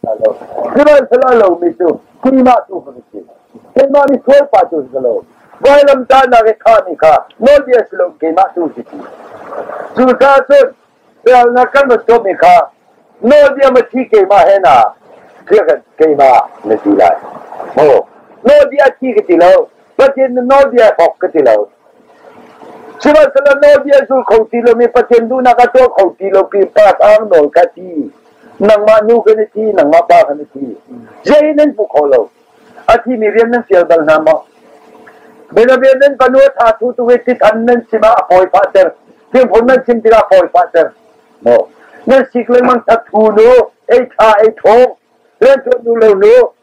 Sihmanhsehlaw cu keimah tu ka si, keimah misualpa tu si lo, vailamtahnak i khahmi kha nawlbia si lo keimah tu si ti. Cucaah cun sualnak kan va tuahmi kha nawlbia mathi keimah he na keimah na ti lai. Maw nawlbia thi ka ti lo, Pathian na nawlbia hrawk ka ti lo. Sihmanhsehlaw nawlbia zul kho ti lo mi Pathian duhnak a tuah kho ti lo pi pa ang nawl ka ti. Nangmah nu kan i ti, nangmah pa kan i ti. Zei nan pu kho lo. A thi mi rian nan fial bal hna maw? Benavia nan panu tha thu tu we ti than nan sima a poi fa ter. Tin phun nan sim tira poi fa ter. No. Nan sik le mang that thu nu, ei tha ei thong. Len tu nu lo nu,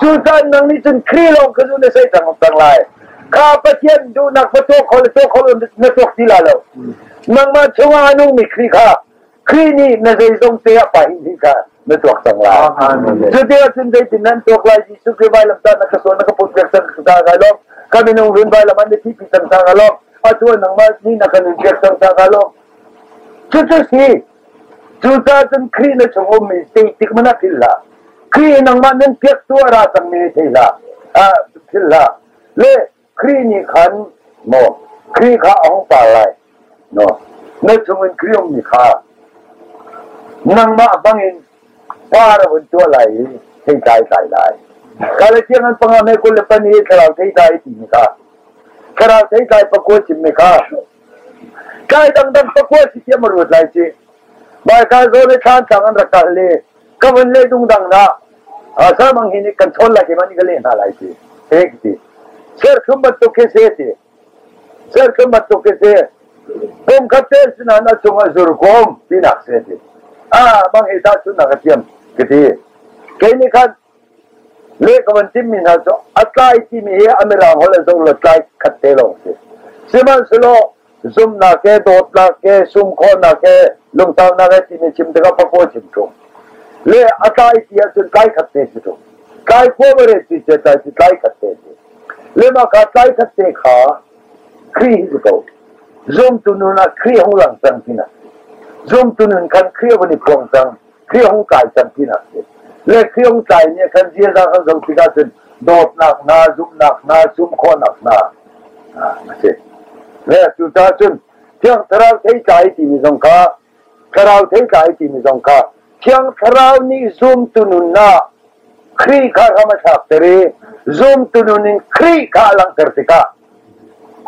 cu caan nang nih cun Kri lawng kha nu na sei cang cang lai kha Pathian duhnak fa tuak khol tuak khol na tuak ti la lo nangmah chungah a nungmi Kri kha Kri nih na zeizong te ah pa hin hin kha na tuak cang lai cuti ah cun zeitin nan tuak lai Jesuh Kri vai lam ta na ka suan na ka put pek cang ta ka lawm ka minung run vai lam an thi pi cang ta ka lawm a tuan nangmah ni na kan in pek cang ta ka lawm cucu si Cuka cun Khrih na chung ummi ting tik man ah phil hlah. Khrih nangmah nan piak tu a ra cangmi thei hlah. Ah, phil hlah. Le Khrih nih khan maw Khrih kha a hung par lai. No, na chungin Khrih ummi kha nangmah bangin par a vun tuah lai i thei tlai tlai lai. Kale tiang an panga me kul le pan i thlarau thei tlai ti mi kha. Thlarau thei tlai pakua chim mi kha Kai dangdang pakua si thiam a ruat lai si. Baikal zaw le thlantlang an rak kal le ka van le dungdang na samang hi ni kan chawn lai ti man ka le hna lai si. Hek ti. Sir khum bantuk ke se ti. Sir khum bantuk ke se. Kum khatte sinan a chung a zur kom tinak se ti. Ah mang he ta sun na ka tiam. Kiti. Kei ni khan Le ka van timmi hna cu a tlai timi hi a mirang holh in zoh lo tlai khat te lawng si. Sihmanhsehlaw zumhnak he, dawtnak he, sum khawhnak he, lungtaunak he timi chim tikah fakua chim ṭung. Le a tlai ti ahcun tlai khat te si ṭung. Tlai khua mare ti ce tlai si tlai khat te si. Le mah ka tlai khat te kha Khrih hi ko. Zumtu nun ah Khrih hung lang cang tina. Zumtu nun khan Khrih van i pong cang. Khrih ong kai can tinak si. Le Khrih ong kai nih kan ziaza kan zoh tikah cun dawtnak hna, zumhnak hna, sum khawhnak hna a si. Le cu ta cun thiang thlarau thei kai timi zong kha thlarau thei kai timi zong kha thiang thlarau nih zumtu nun na Khrih kha ram a thlak ter i zumtu nun in Khrih kha a langter tikah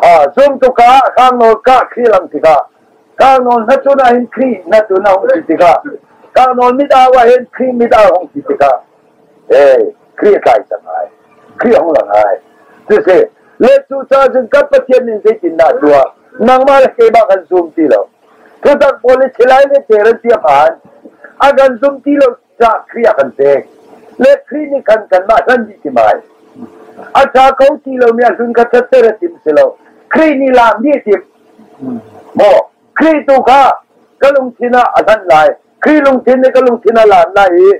a zumtu ka hrang nawl ka Khrih lang tikah Karnawl hnatun ah hin Khrih hnatun a hung ti tikah Karnawl mit au ah hin Khrih mit au hung ti tikah eh Khrih kai cang ai Khrih hung lang ai ti si le cu caan cun kan Pathian nih zeitin dah tuah nangmah le keimah kan zum ti lo tutak policy lai le teran tiam han a kan zum ti lo cah kria kan pek le kri nih khan kanmah hlan dih tim ai a tha ko ti lo mi ahlun kha that tere tim si lo kri nih la mi tim mo kri tu kha ka lungthin ah a hlan lai kri lungthin nih ka lungthin a lan lai i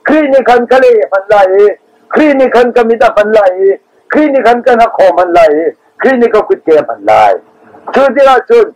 kri nih khan ka le hman lai i kri nih khan ka mit a hman lai i kri nih khan kan ha khom hman lai i kri nih ka kut ke hman lai cu ti ah cun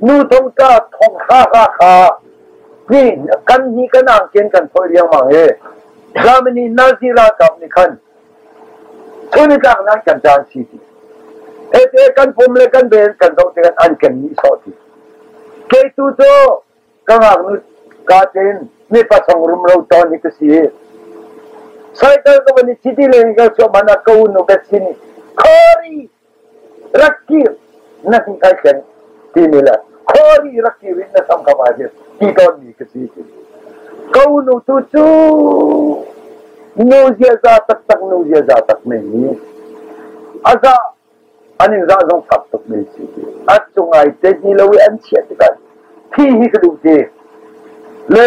nu tungka thong hra hra kha kan ni kan ang kian kan phoi riangmang hi Germany Nazi ralkap nih khan sunitlang nan kan dan si ti ete kan pum le kan ven kan zo te kan an kan ni so ti ke tu to ka ngak nu ka ten mi pasang rum lo ton ni ka si cycle ka bani city le ka so mana ka unu bet sini khori rak kir na hni kai ken timi le khuari rak kir in na sam kam ah hin ti ton mi ka si ti ko nu tu cu nu ziaza taktak nu ziaza tak me ni aza an in za zong fak tuk me si ti a cung ai te ni lo i an chia tikah khi hi ka duh ti le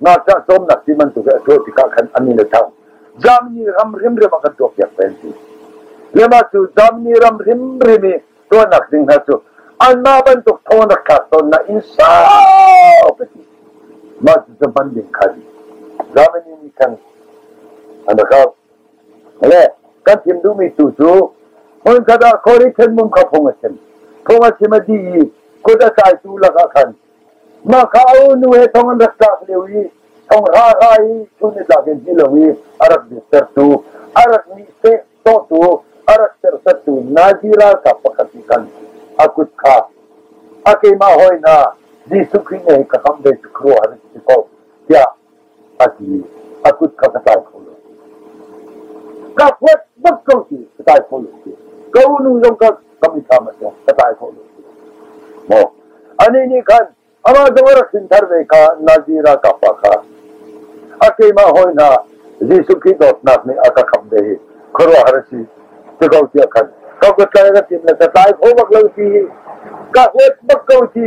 ngakchah cawmnak ti bantuk hi a tuah tikah khan an in a thang Germany ram hrimhrim a kan tuah piak peng ti lema cu Germany ram hrimhrim i tuahnak ding hna cu anmah bantuk thonak thlak ton na in saupi ti mah cu zaman ding khan Germany nih khan an rakau le kan thim duhmi tu cu hon kada khori then mum kha phung a chen phung a chim a di i kut a kai tu lakah khan Mahka a nu he thong an rak tlak lio i thong hra i chun i tlak in ti lo i a rak dirtertu a rak nih seh tawtu a rak sersettu Nazi ralkap pakhat nih khan a kut kha a keimah hoi hna Jesuh Khrih nih ka kam ve cu khuaruahhar a si ko tiah a ti mi a kut kha ka tlai kho lo. Ka huat bak ko ti ka tlai kho lo ti. Ka unu zong ka ka mi tha ma se ka tlai kho lo ti. Mo ani ni khan ama zong rak sin thar ve ka nazira ka pa kha a keima hoi na Jesuh Khrihto nak nih a ka kham ve hi khuaruah har si ti ko tiah khan ka ka tlai ra tin na ka tlai kho bak lo ti ka huat bak ko ti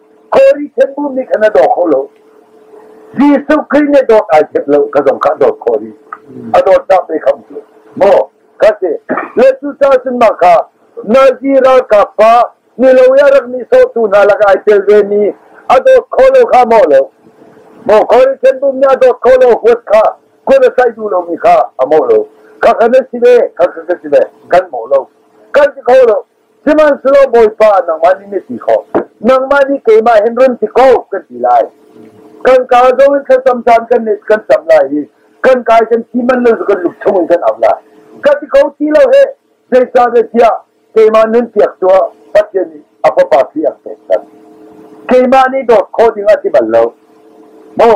Kori khenbu nih khan a daw kho lo. Jesuh Khrih nih dawt ai chep lo, ka zong kha dawt kho rih. A dawt tak te kham cu. Maw, ka se, le cu ca cun mah kha, Nazi ralkap pa, ni lo ya rak ni sotu hna lak ai tel ve mi, a dawt kho lo kha maw lo. Maw, Kori khenbu nih a dawt kho lo huat kha, kun a sai du lo mi kha, a maw lo. Ka kha na si ve, ka kha ka si ve, kan maw lo. Kan ti kho lo. Sihmanhsehlaw Bawipa nangmah nih na ti kho nangmah nih keimah hin run ti ko kan ti lai kan kaa zong in thlacam caan kan kan cam lai i kan kai kan thi man lo kan luk chung in kan au lai ka ti ko ti lo he zeicahtiah keimah nun piak tuah Pathian nih a fapa khi a pek kan keimah nih dawt kho ding a ti bal lo maw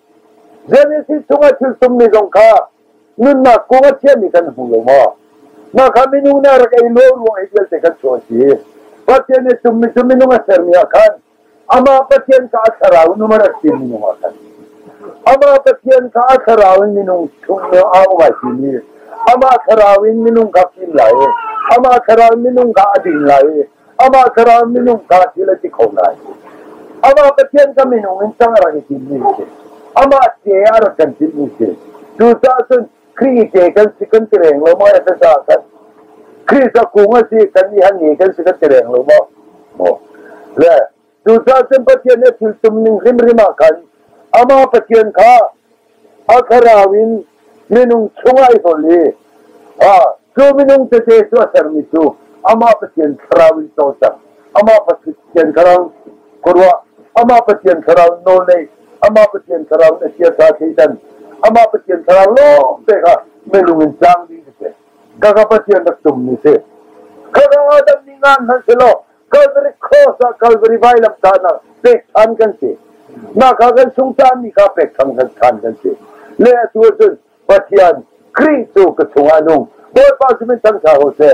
Genesis chungah thilsungmi zong kha nunnak kung a chiami kan hmu lo maw? Mah kha minung nih a rak ei luau ruang i vialte kan chuah a si. Pathian nih tummi cu minung a sermi ah khan amah Pathian kha a thlarau in um a rak ti minung ah khan. Amah Pathian kha a thlarau in minung chung nih a um ai timi amah thlarau in minung kha fim lai i amah thlarau in minung kha a ding lai i amah thlarau minung kha thil a si kho lai. Amah Pathian ka minung in cang a rak i timmi si. Amah te a rak kan timmi si. Cucaah cun Khrih te kan si kan ti reng lo maw, ka sa kan. Khrih sa kung a si, kan i han ni kan si kan ti reng lo maw. Maw. Le Cucaah cun Pathian nih thil tum ning hrimhrim ah khan amah Pathian kha a thlarau in minung chungah i hlawl i cu minung tete cu a sermi cu amah Pathian thlarau in cawlcang amah Pathian thlarau khuaruah amah Pathian thlarau nawl nei amah Pathian thlarau na chiasa seitan amah Pathian thlarau lawng te kha melung in cang ding a si ka ka Pathian rak tum ni si ka ka Adam ni ngan hman si law Calvary cross ah Calvary vailam tanah pek than kan si. Mah kha kan sung tan mi kha pek thang than kan si. Le atu cun Pathian Khrih tu ka chungah nung Bawipa simin thang sa ho se.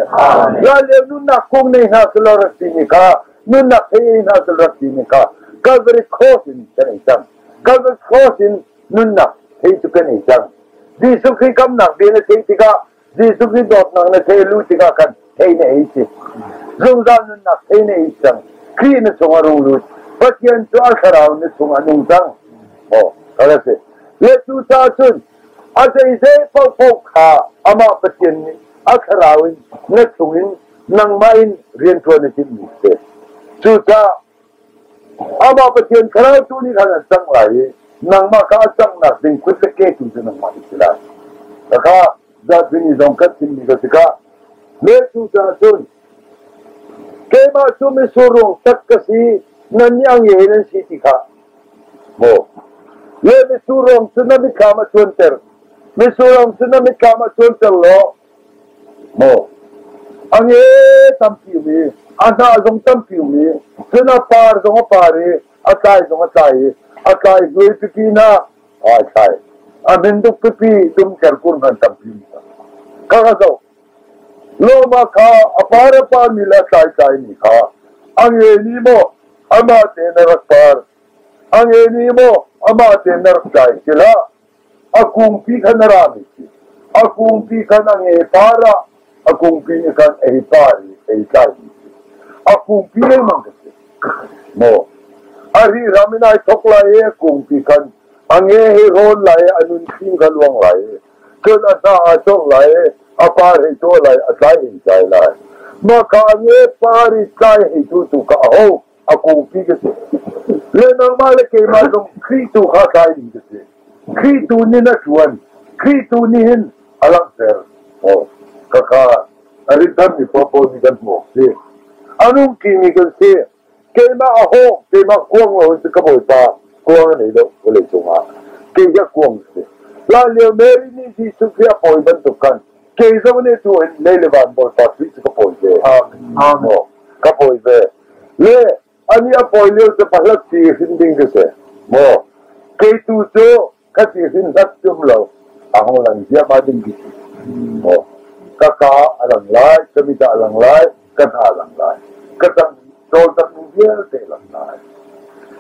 Raleu nunnak kung nei hna selo rat ti mi kha nunnak thei hna selo rat ti mi kha Calvary cross in kan ei cang. Calvary cross in nunnak thei tu kan ei cang. Jesuh Khrist kamnak bil a thei tikah Jesuh Khrih dawtnak na thei lu tikah khan thei na ei si. Zungzal nunnak thei na ei cang. Khrih na chung a rung lut. Pathian cu a thlarau na chung a nung cang. Oh, ka ra si. Le cu ta cun a zeizei paohpaoh kha amah Pathian nih a thlarau in na chung in nangmah in rianṭuan a timhmi si. Cucaah Amah Pathian thlarau nih khan an cang lai i nangmah ka a canghnak ding kut le ke tu cu nangmah i si lai. Khakha zatini zong kan chimmi ka tikah le tu caah cun keimah cu mitsur ruang tak ka si nan niangie nan si ti kha maw le mitsur ruang cu na mitthlam a cuanter mitsur ruang cu na mitthlam a cuanter law Maw a nge tampi mi, a hna zong tampi mi, cun a par zong a par i a tlai zong a tlai i a tlai hlui pipi na ai tlai. A minduk pipi tum ker kur ngan tampi mi ka ka zo. Loma kha a par a par mi la tlai tlai mi kha a nge ni mo amah te na rak par. A nge ni mo amah te na rak tlai kila A kungpi khan a rami khi a kungpi khan a ngepar ah a kungpi nih khan ei par i ei tlaimi khi a kungpi lengmang ka si maw a ri ram in ai thok lai i a kungpi khan a nge hi rawn lai i a nun khim kha luang lai i cun a hna a cawrh lai i a par hei tuah lai a tlai hei tlai lai mah ka a nge par i tlai hei tu tu ka a ho a kungpi ka si. Le nangmah le keimah zong Khrih tu kha tlai ding ka si. Khrih tu nih na ṭuan. Khrih tu nih hin a langhter. Oh, ka kha a rinthar mi pawl nih kan hmuh si. A nungki mi kan si. Keimah a hawk, keimah kuang lo in ka bawipa kuang nei lo vawlei cungah. Kei ka kuang si. La lio Mary nih Jesuh Khrih a pawi bantuk kan kei zong nih tu in lei le van bor sa tuih cu ka pawi ve amen ka pawi ve le ani a pawi lio cu pahlat ti hrin ding ka se mo kei tu cu ka ti hrin hlat tum lo a hong lang zia ma ding ki mo ka ka a lang lai ka mit a lang lai ka hna a lang lai ka tam tol tak mi vialte lang lai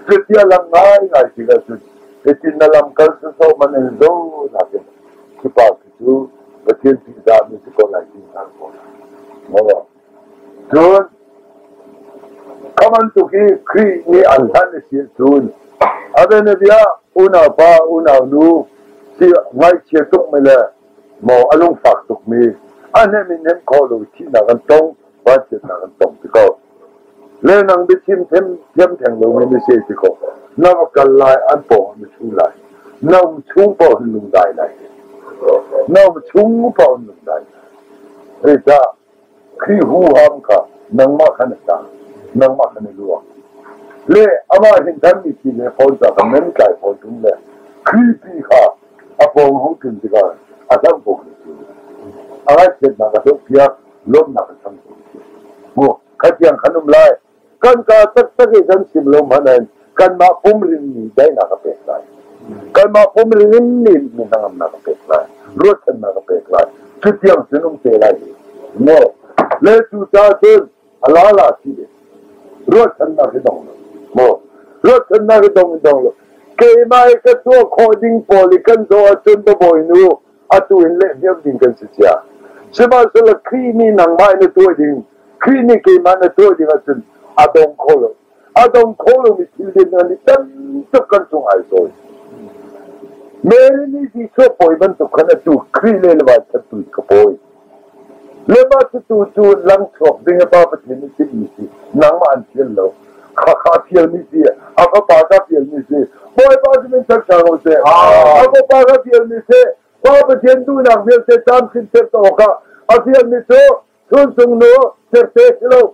cutia lang ngai ngai ti la cun etin na lam kal su so man en zo na ke ki pa cu Pathian ṭihdah na si ko lai ti hna ko lai. Cun kha bantuk hi Khrih nih an hlan a si cun a bianabia unaupa unaunu si ngaihchia tukmi le maw a lungfak tukmi a hnem in hnem khawh lo thihnak an tong Vachiatnak an tong ti ko. Le nang biachim them thiam theng lomi na se ti ko. Na va kal lai an paw na chung lai. Na um chung paw hin lung dai lai. Na um chung paw hin lung dai lai. Ri ta khi hu ham ka nangma khan ta nangma khan luwa. Le ama hin kan ni ti le phone ta kan men kai phone tum le khi pi kha a phone hu tin ti ka a sam phone ti. A ga set na ka to pia lawmhnak kan tam tuk. Mu, khatiang kan um lai, kan ka taktak i kan sim lo man in kanmah pum rinmi daihnak ka pek lai. Kanmah pum rinmi min hangamnak ka pek lai, ruatchannak ka pek lai. Cutiang sinum te lai. Mu, le cu ta cun alala si de. Ruatchannak hi dong. Mu, ruatchannak hi dong dong lo. Keimah ka tuah khawh ding pawl i kan zoh ahcun babawi nu atu in lehhniam ding kan si cia. Sihmanhsehlaw Khrih nih nangmah in na tuah ding, Khrih nih keimah na tuah ding ahcun a dong kho lo. A dong kho lomi thil din nan i tam tuk kan cung ai sawi. Mary nih Jesuh pawi bantuk khan atu Khrih le le van chan tu ka pawi. Le mah cutu cu lam chuak ding a pa Pathian nih timhmi si nangmah an fial lo khakha fialmi si a fapa ka fialmi si bawipa sinin ṭhat ṭhan u sih a fapa ka fialmi si pa Pathian duhnak vialte tlamthin serter awkah a fialmi cu chun cung nu serte si lo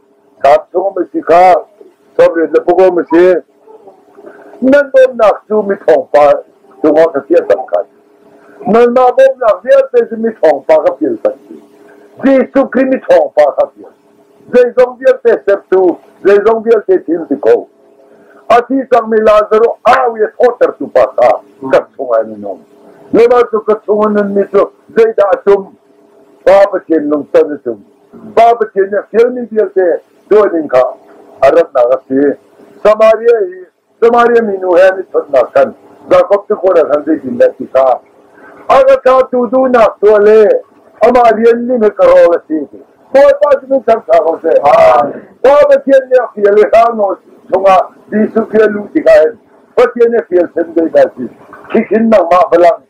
Tlangcung masi kha chawrin na pakaw masi nan bawmnak cu mi thawngpa cungah ka fial tam kai nanmah bawmnak vialte cu mi thawngpa ka fial tak Jesuh Khrih mi thawngpa ka fial zeizong vialte sertu zeizong vialte thil ti ko asi cangmi Lazarus awi thawtertu pa kha ka chungah minung lema cu ka chungah nunmi cu zeidah a tum pa Pathian nung ton a tum Pa Pathian nih a fialmi vialte dawining kha a ratnak a si. Samaria hi Samaria minu he an i chonhnak khan Jakob cu khuaral han zeitindah ti kha a ka tlatu duhnak tuah le amah rian ning he ka rawl a si ti. Bawipa cu min thangṭha ko seh. Pa Pathian nih a fial i hrangno chungah Jesuh fial lu tikah hin Pathian nih a fial sen ve dah si. Khihhin nangmah balang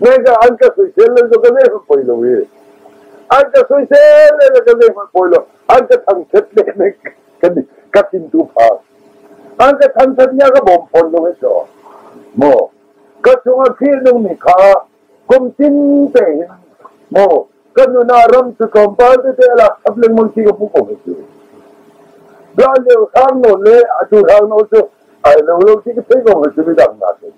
Naika an ka soisel le na ka nehmanh poi lo i an ka soisel le na ka nehmanh poi lo an ka thangthat le ne ka ka thintu pha an ka thangthat ya ka bawm phon lo e to mo ka chunga thil nung ni kha kum tin te mo ka nuna ram tu compound te la apleng mon chi ka pu ko tu da le khang no le atu khang no chu ai lo lo chi ka pe ko ma chu mi dang na te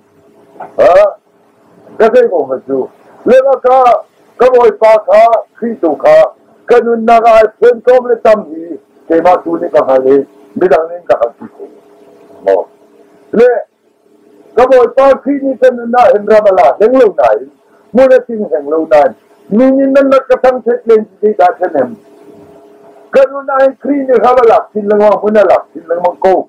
Ka zeikong hmanh cu lengakah ka Bawipa kha Khrih tu kha ka nunnak ah ai phunkawm le tam hi keimah tu nih ka hngal i midang nih ka hngalh ti ko. Amen. Le ka Bawipa Khrih nih ka nunnak hin ram a la hleng lo nain hmun a ting hleng lo nain min in nan lat ka thangthet len ti dah thanem. Ka nunnak hin Khrih nih ram a lak sin lengmang hmun a lak sin lengmang ko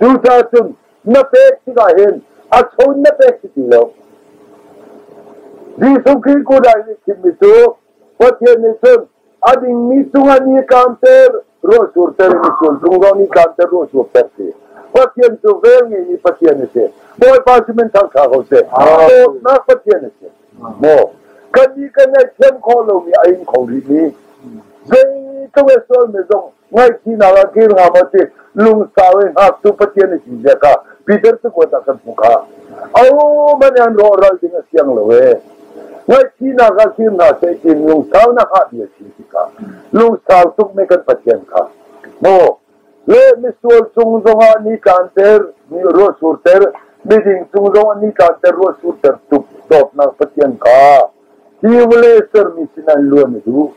Cucacun na pek tikah hin a cho na pek ti ti lo. Jesuh Khrih kut ah i thimmi cu Pathian nih cun a dingmi cungah ni kaanter ruahsurter in sual cung zong ni kaanter ruahsurter si. Pathian cu vel ngeimi Pathian a si. Bawipa si men thangtha ko seh. Dawtnak Pathian a si. Maw, kan nih kan ei thiam khawh lomi a in kho rih mi. Zeitlung e sual me zong Ngaihchihnak ah kir hngam a si. Lungsau in hngaktu Pathian a si zia kha Peter cakuat ah kan hmu kha. Awo man an rawhral ding a siang lo e. Ngaihchihnak ah kir hna seh tin lungsau nak ah bia si si ka. Lungsau tuk me kan Pathian kha. Mo, le misual chung zong ah ni tlan ter, ni ro sur ter, miding chung zong ah ni tlan ter ro sur ter tuk dawpnak Pathian kha. Hi vawlei sermi sinah luan a duh.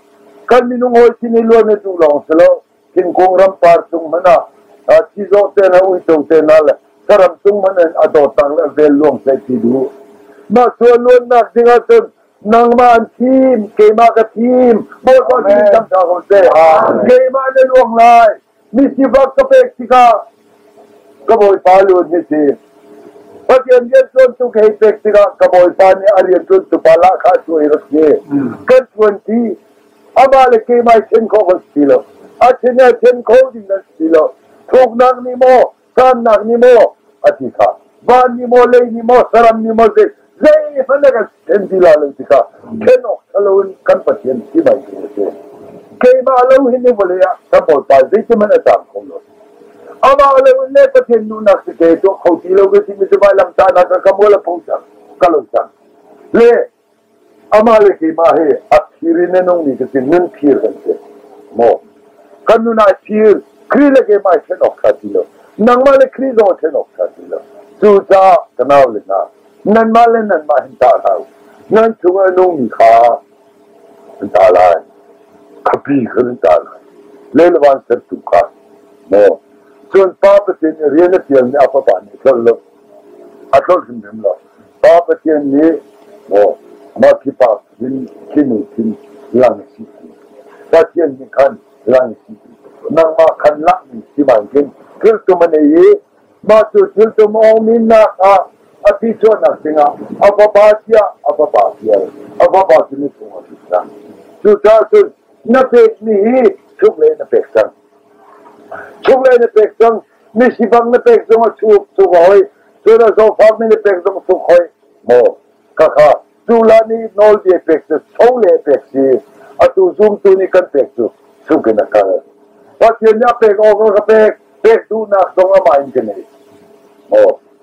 Kan minung hawi sin i luan a duh lawng si lo, thingkung rampar cung hmanh ah sizawh te le uico te hna le saram cung hmanh in a dawtnak le vel luang hlei ti duh. Mah cu a luannak ding ah cun nangmah an thim, keimah ka thim, Bawipa sin cang hna ko seh. Keimah na luang lai. Misifak ka pek tikah ka bawipa lun hi si. Pathian rian ṭuantu ka hei pek tikah ka bawipa nih a rian ṭuantu pa lah kha a cuai rak si. Kan ṭuanti amah le keimah i ṭhen khawh kan si lo. A ṭhen a ṭhen kho ding nan si lo. Thuknak nih maw Kannak ni maw a ti kha van ni maw lei ni maw saram ni maw zei zeihmanh a kan ken ti la lo ti kha ken awk thalo in kan pathian si mai ti a si keimah lo hin ni vole ah kan bolpa zeitiman a cang kho lo amah lo in le pathian nunak si ke to kho ti lo ke ti mi zumai lam ta na ka ka mo la pho cang ka lo cang le Amah le keimah hi a phir in a nungmi cu tin nun phir kan si. Maw? Kan nun ai phir, Khrih le keimah i ṭhen awk ṭha ti lo. Nangmah le Khrih zong i ṭhen awk ṭha ti lo. Cucaah ka nau le hna, nanmah le nanmah hin tah hlah u. Nan chung a nungmi kha an tah lai. Khapi kha nan tah lai. Le le vansertu kha. Maw? Cun Pa Pathian nih rian a ṭialmi a Fapa nih a tlolh lo. A tlolh hrimhrim lo. Pa Pathian nih maw mah khipa khin khinu khin lang si Pathian nih khan lang si nangmah khan lakmi si bankin thiltum an ei i mah cu thiltum awmi nak ah a ti chuahnak dingah a fapa tiah a fapa tial a fapa cu ni cung a ti cang cucaah cun na pekmi hi chuk le na pek cang chuk le na pek cang Mi sibang na pek zong a chuk chuk hoi. Cun a zofar mi na pek zong chuk hoi. Maw, kaka, tula nih nawl bia pek cu cho le pek si. Atu zumtu nih kan pek cu chungin a kal. Pathian nih a pek awk ka pek. Pek duhnak zong amah in ka nei. Maw,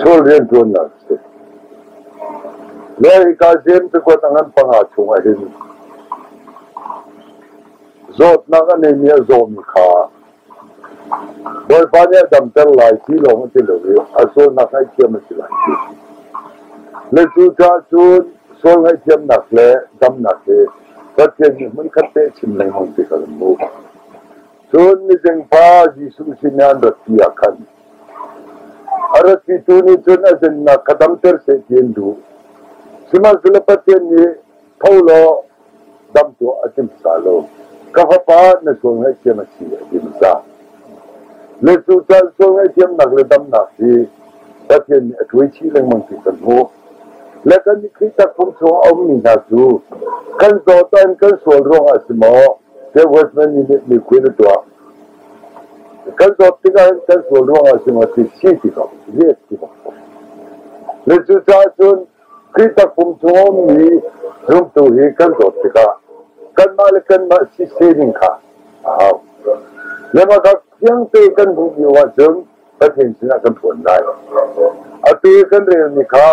Sual rianṭuannak a si. Le hika Jeim cakuat a ngan panga chungah hin zawtnak a neimi a zawmi kha Bawipa nih a damter lai ti lawng a ti lo i a sualnak ngaihthiam a si lai. Le cu caah cun sual ngaihthiamnak le damnak hi Pathian nih hmunkhat te a chim lengmang ti kha kan hmuh. Cun mizeng pa Jesuh sinah an ratpi ah khan a ratpitu nih cun a zennak kha damter seh ti an duh. Sihmanhsehlaw Pathian nih tho law dam tuah a tim sa lo. Ka fapa na sual ngaihthiam a si a ti hmasa. Le cucaah sual ngaihthiamnak le damnak hi Pathian nih a tuai chih lengmang ti kan hmuh. Le kan i Khrih takfung chung a ummi hna cu kan zawt an kan sual ruangah a si maw? State Western Union miphun a tuah. Kan dawt tikah hin kan sual ruangah cungah ti si ti ko, ret ti ko. Le cu cahcun Khrih takpum chung a ummi zumtu hi kan dawt tikah kanmah le kanmah si se ning kha a hau. Le mah kha fiangte kan hmuh lio ahcun Pathian sinah kan phuan lai. Atu i kan relmi kha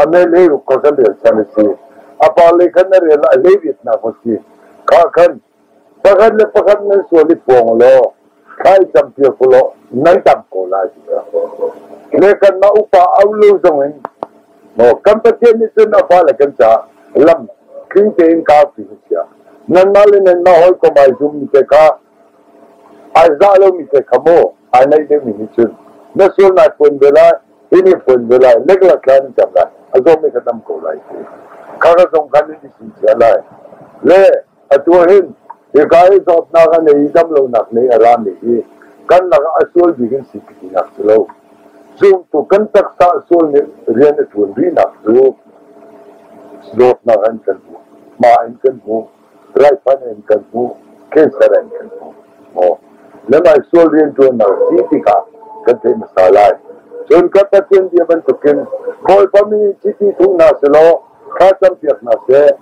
MMA ruk kha kan rel chan a si. A parle khan na rel ah hleivitnak a si. Kha khan pakhat le pakhat nan sual i pawng law thlai tam pia ku law nan tam ko lai. Le kan ma upa au lo zong in no kan pathian nih cun a fale kan ca lam tling tein ka fi sia nan ma le nan ma hoi ko mai zum te ka Ai zah lomi te kha maw ai naih deuhmi nih cun na sual nai phuan ve lai, hi nih phuan ve lai, lekla thla nih cang lai, a zong mi kha tam ko lai ti. Kha ka zong khan nih sin cia lai. Le atu hin hika hi zawtnak a nei i damlonak nei a rami hi kan lak a sual bik in si tinak cu lo. Zumtu kan taksa a sual nih rian a ṭuan rihnak cu zawtnak an kan hmu. Ma in kan hmu. Raihman in kan hmuh, cancer in kan hmuh. Maw, na ngaisual rianṭuannak si tikah kan theih hmasa lai. Cun kan Pathian bia bantukin Bawipa mi chiti thung hna selaw kha campiak hna seh.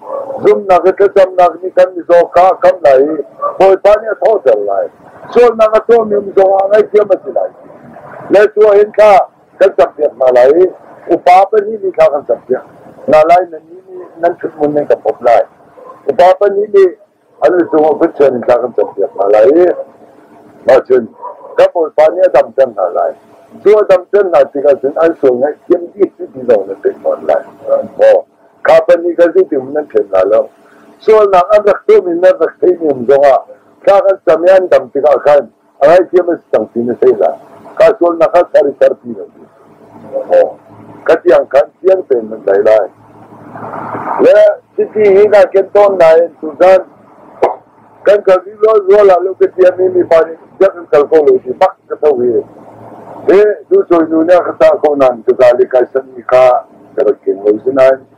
Zumhnak i thlacamnak nih kan mizaw kha a kam lai i Bawipa nih a thawhter lai. Sualnak a tuahmi zongah ngaihthiam a si lai. Na tuah hin kha kan campiak hna lai upa pahnih nih kha kan campiak hna lai nan nih nih nan ṭhutmun nan ka pop lai upa pahnih nih an cung of Christian in kha kan campiak hna lai i ahcun kan bawipa nih a dam cang hna lai cu a dam cang hna tikah cun an sual ngaih thiam bik cu ti zong nan pek fawn lai maw kha pahnih kan zing timun nan ṭhen hna lo sualnak an rak tuahmi nan rak theihmi um zongah thla kan cam i an dam tikah khan A ngaihthiam a si cang ti na sei dah. Ka sualnak kha ser i serpi lo ti. Aw. Ka tiang khan fiang tein nan dai lai. Le chiti hi na ken tawn na in tuzan kan kal di lo zual ah lo ke tiam mi mi pa nih jak kan kal ko lo ti bak ka tho hi. He du soi nu ne ka ta ko nan ka zali kai san ni ka ka rakin lo sinan